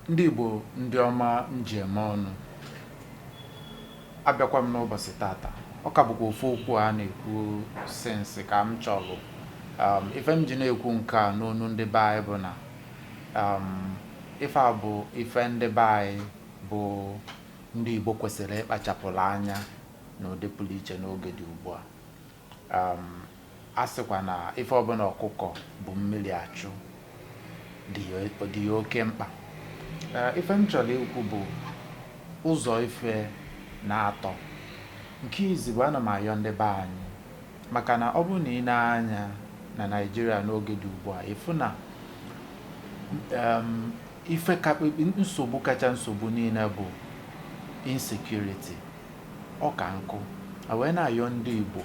ndị Igbo ndị ọma m ji eme ọnụ abịakwa m n'ụbọsị tata ọ ka bụkwa ofu okwu a na-ekwu since ka m chọlụ um, ife m ji na-ekwu nke a n'onu ndị be anyị bụ na um, ife a bụ ife ndị be anyị bụ ndị Igbo kwesịrị ịkpachapụlụ anya n'ụdị pụlụ iche n'oge dị ugbu a um, a sịkwa na ife ọbụna ọkụkọ bu mmiri achụ dị ya oke mkpa uh, ife m chọrọ ikwu bụ ụzọ ife naatọ nke izizi bụ ana m ayọ ndị be anyị maka na ọ bụrụ na i nee anya na Naịjirịa n'oge dị ugbu a ị fụ na um, ife kakpekpe nsogbu kacha nsogbu niile bụ insecurity ọ ka m kwọ wee na-ayọ ndị Igbo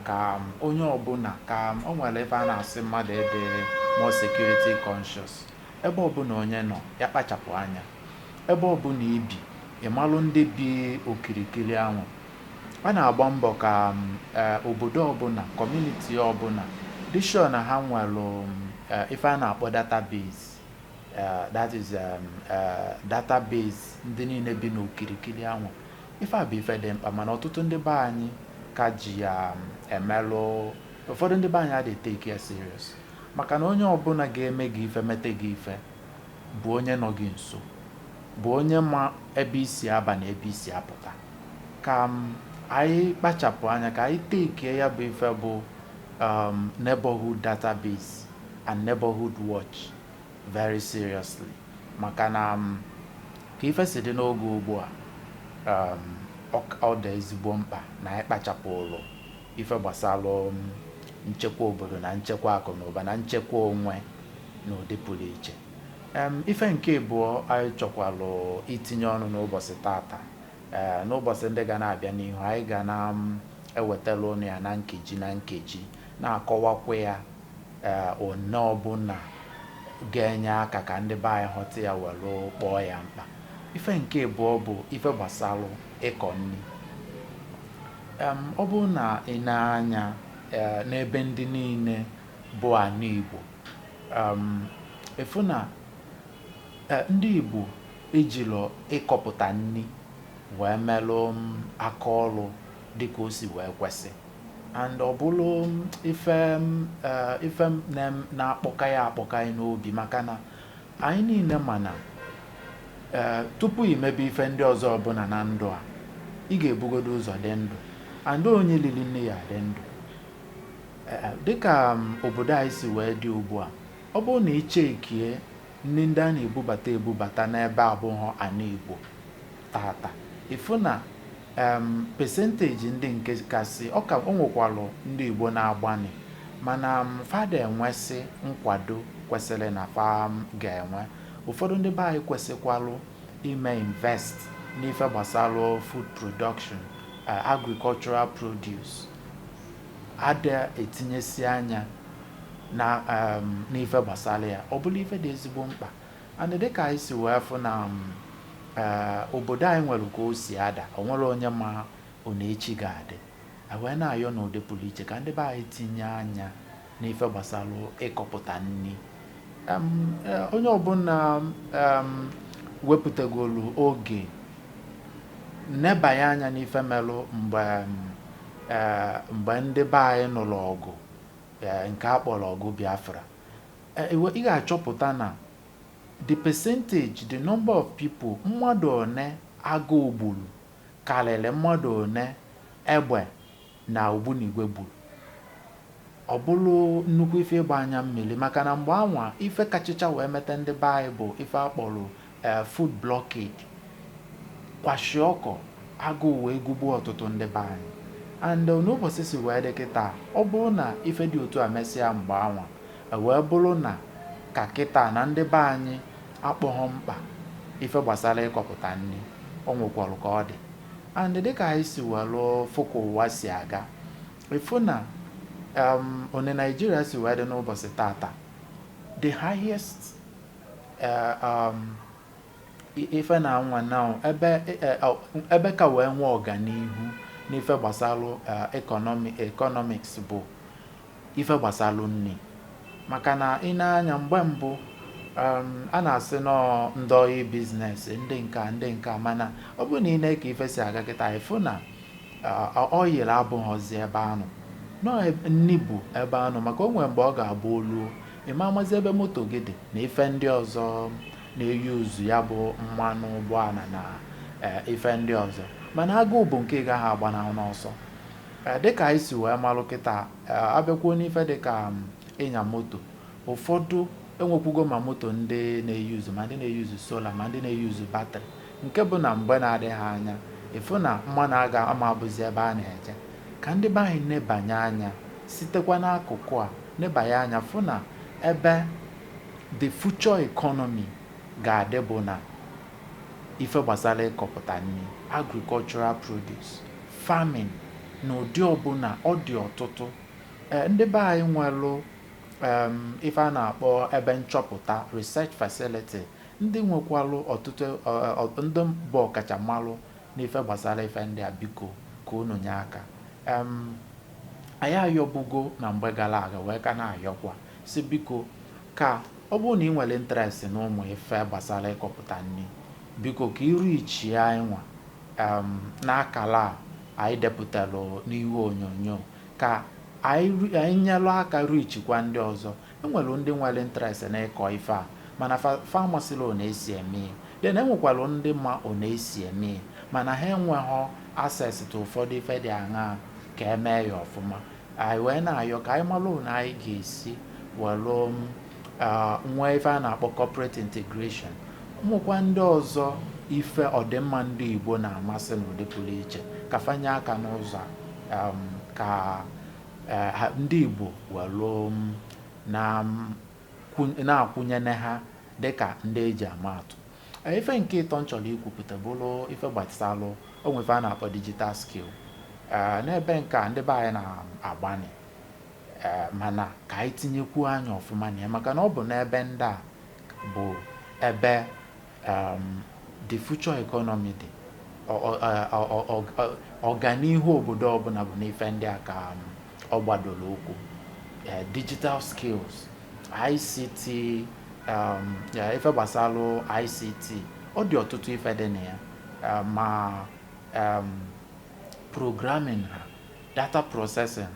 ka um, onye ọbụna ka um, o nwelụ ife a na-asị mmadụ ịdị more security conscious ebe ọbụna onye nọ ya kpachapụ anya ebe ọbụna i bi ị malụ ndị bi okirikiri anwa a na-agba mbọ ka um, e, obodo ọbụna community ọbụna dị sure na ha nwelụ e, ife a na-akpọ database Uh, that is um, uh, database ndị niine bi n'okirikiri anwa ife a bụ ife dị mkpa mana ọtụtụ ndị be anyị ka ji ya um, emelụ ụfọdụ ndị be anyị adịghị take ya serious maka na onye ọbụna ga-eme gị ife mete gị ife bụ onye nọ gị nso bụ onye ma ebe i si aba na ebe i si apụta ka um, anyị kpachapụ anya ka anyị takie ya bụ ife bụ neighborhood database and Neighborhood Watch very seriously maka na um, ka ife si dị n'oge ugbu a um, ọ dị ezigbo mkpa na anyị kpachapụlụ ife gbasalụ um, nchekwa obodo na nchekwa akụ na ụba na nchekwa onwe n'ụdị pụrụ iche ife nke abụọ anyị chọkwalụ itinye ọnụ n'ụbọsị tata eh, n'ụbọsị ndị ga na-abịa n'ihu anyị ga na-ewetara ụnụ ya na nkeji na nkeji na-akọwakwu ya ee onye ọbụna ga-enye aka ka ndị be anyị ghọta ya were kpọọ ya mkpa ife nke abụọ bụ ife gbasara ịkọ nni ọ bụrụ na i nee anya e, n'ebe ndị niile bụ anị Igbo ị fụ na e, ndị Igbo ejilọ ịkọpụta nni wee melụ aka ọlụ dịka o si wee kwesị and ọ bụrụ ife eh, ife na-akpọka ya akpọka anyị n'obi maka na anyị niile ma na eh, tupu imebe ife ndị ọzọ ọbụla na ndụ a ị ga-ebugodo ụzọ dị ndụ and onye lili nni ya dị ndụ eh, dịka mm, obodo anyị si wee dị ugbu a ọ bụrụ na ị checkie nri ndị a na-ebubata ebubata n'ebe abụghọ ana Igbo tata ị fụ na em percentage ndị nke kasị ọ ka o nwekwalụ ndị Igbo na-agbanị mana mm fa ada enwesị nkwado kwesịrị na fa ga-enwe ụfọdụ ndị be anyị kwesịkwalụ ime invest n'ife gbasara food production eh, agricultural produce ada etinyesi anya na em, n'ife gbasara ya ọ bụlụ ife dị ezigbo mkpa and dịka anyị si wee fụ na um, eh, obodo anyị nwere ka o si ada o nwere onye ma one echi ga-adị anyị wee na-ayọ n'ụdị pụrụ iche ka ndị be anyị tinye anya n'ife gbasara ịkọpụta nni um, eh, onye ọbụla um, wepụtagolu oge nebanye anya n'ife melụ mgbe eh, mgbe ndị be anyị nụrụ ọgụ eh, nke a kpọrọ ọgụ Biafra ị ga-achọpụta na the percentage, the number of people mmadụ one agụụ gburu karịrị mmadụ one egbe na ogbunigwe gburu. Ọ bụrụ nnukwu ife ịgba anya mmiri maka na mgbe anwa ife kachacha wee meta ndị be anyị bụ ife a kpọrọ eh, food blockade kwashiorkor agụụ wee gụgbuo ọtụtụ ndị be anyị and eh, one ụbọchị si wee dị kịta ọ bụrụ na ife dị otu a mesịa mgbe anwa e wee bụrụ na ka kịta na ndị be anyị akpọghọ mkpa ife gbasara ịkọpụta nni o nwekwara ka ọ dị and dịka anyị si welụ fụ ka ụwa si aga ị fụ na um, one Naịjirịa si wee dị n'ụbọchị tata the highest Eh, um, ife na nwa na ebe eh, oh, ebe ka wee nwee ọganihu n'ife gbasalụ economics eh, bụ ife gbasalụ nni maka na ị nee anya mgbe mbụ um, a na-asị na ọ ndị oil business ndị nke a ndị nke a mana ọ bụrụ na ị nee ka ife si aga kịta ị fụ na oil abụghọzi ebe anụ nọ nni bụ ebe anụ maka o nwere mgbe ọ ga-abụ o luo ị ma amazi ebe moto gị dị na ife ndị ọzọ na-euse ya bụ mmanụ ụgbọala na eh, ife ndị ọzọ mana agụụ bụ nke ị gaghị agbanahụ n'ọsọ eh, dịka anyị si wee malụ kịta eh, abịakwuo n'ife dịka mm, ịnya moto ụfọdụ enwekwugo ma moto ndị na-euse ma ndị na-euse solar ma ndị na-euse battery nke bụ na mgbe na-adịghị anya ị fụ na mmanụ ama abụzi ebe a na-eje ka ndị be anyị nebanye anya Sitekwa n'akụkụ a neba ya anya fụ na ebe the future economy ga-adị bụ na ife gbasala ịkọpụta nni, agricultural produce, farming n'ụdị ọbụna, ọ dị ọtụtụ. Ee, ndị be anyị nwelụ em, ife a na-akpọ ebe nchọpụta research facility, ndị nwekwalụ ọtụtụ ọ- ọ- ndị bụ ọkachamalụ N'ife gbasala ife ndị a biko ka unu nye aka. Um, anyị ayọbugo na mgbe gala aga wee ka na-ayọkwa si biko ka ọ bụrụ na ị nwelụ interest na ụmụ ife gbasala ịkọpụta nni biko ka ị reachie anyị nwa um, n'akara a anyị depụtara n'ihu onyonyo ka anyị nyelụ aka reachikwa ndị ọzọ enwere ndị nwere interest na ịkọ ife a mana fa amasịlọ ọ na-esi eme then enwekwara ndị ma ọ na-esi eme mana ha enweghị access to ụfọdụ ife dị aṅaa ka e mee ya ọfụma anyị wee na-ayọ ka anyị malụ na anyị ga-esi welụ um, uh, nwee ife a na-akpọ corporate integration nwekwa ndị ọzọ ife ọdịmma ndị Igbo na-amasị n'ụdị pụrụ iche ka fa nye aka n'ụzọ um, ka ndị Igbo welụ na-akwụnyene ha dịka ndị eji ama atụ ife nke ịtọ m chọlụ ikwupụta bụlụ ife gbasalụ inwe ife a na-akpọ digital skill n'ebe nke a ndị be anyị na-agbanị mana ka anyị tinyekwuo anya ọfụma na ya maka na ọ bụ n'ebe ndị a bụ ebe um, the future economy dị ọganihu obodo ọbụna bụ n'ife ndị a ka um, ọ gbadolụ ụkwụ eh, digital skills ICT um, ife gbasala ICT ọ dị ọtụtụ ife dị na ya eh, ma um, programming ha data processing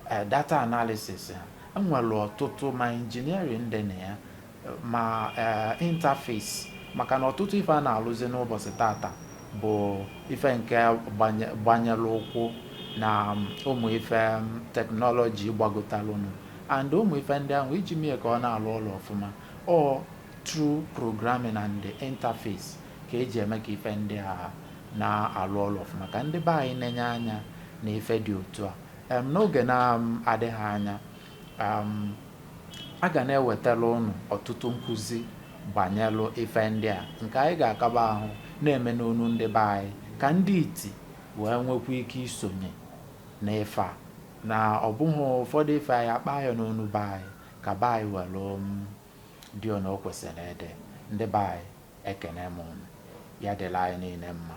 ha eh, data analysis ha enwere ọtụtụ ma engineering dị na ya ma interface maka na ọtụtụ ife a na-alụzi n'ụbọchị tata bụ ife nke gbanyelụ ụkwụ na ụmụ ife technology gbagotalụ enu and ụmụ ife ndị ahụ iji mee ka ọ na-alụ ọlụ ọfụma ọ through programming and the interface ka eji eme ka ife ndị a na-alụ ọlụ ọfụma ka ndị be anyị nenye anya na ife dị otu a n'oge na-adịghị anya A ga na-ewetala ụnụ ọtụtụ nkụzi banyelu ife ndị a nke anyị ga-akaba ahụ na-eme n'onu ndị be anyị ka ndị iti wee nwekwa ike isonye n'ife a na ọ bụghị ụfọdụ ife anyị akpa ya n'onu be anyị ka be anyị welu um, dị ona o kwesịrị ịdị ndị be anyị ekene m ụnụ ya dịlị anyị niile mma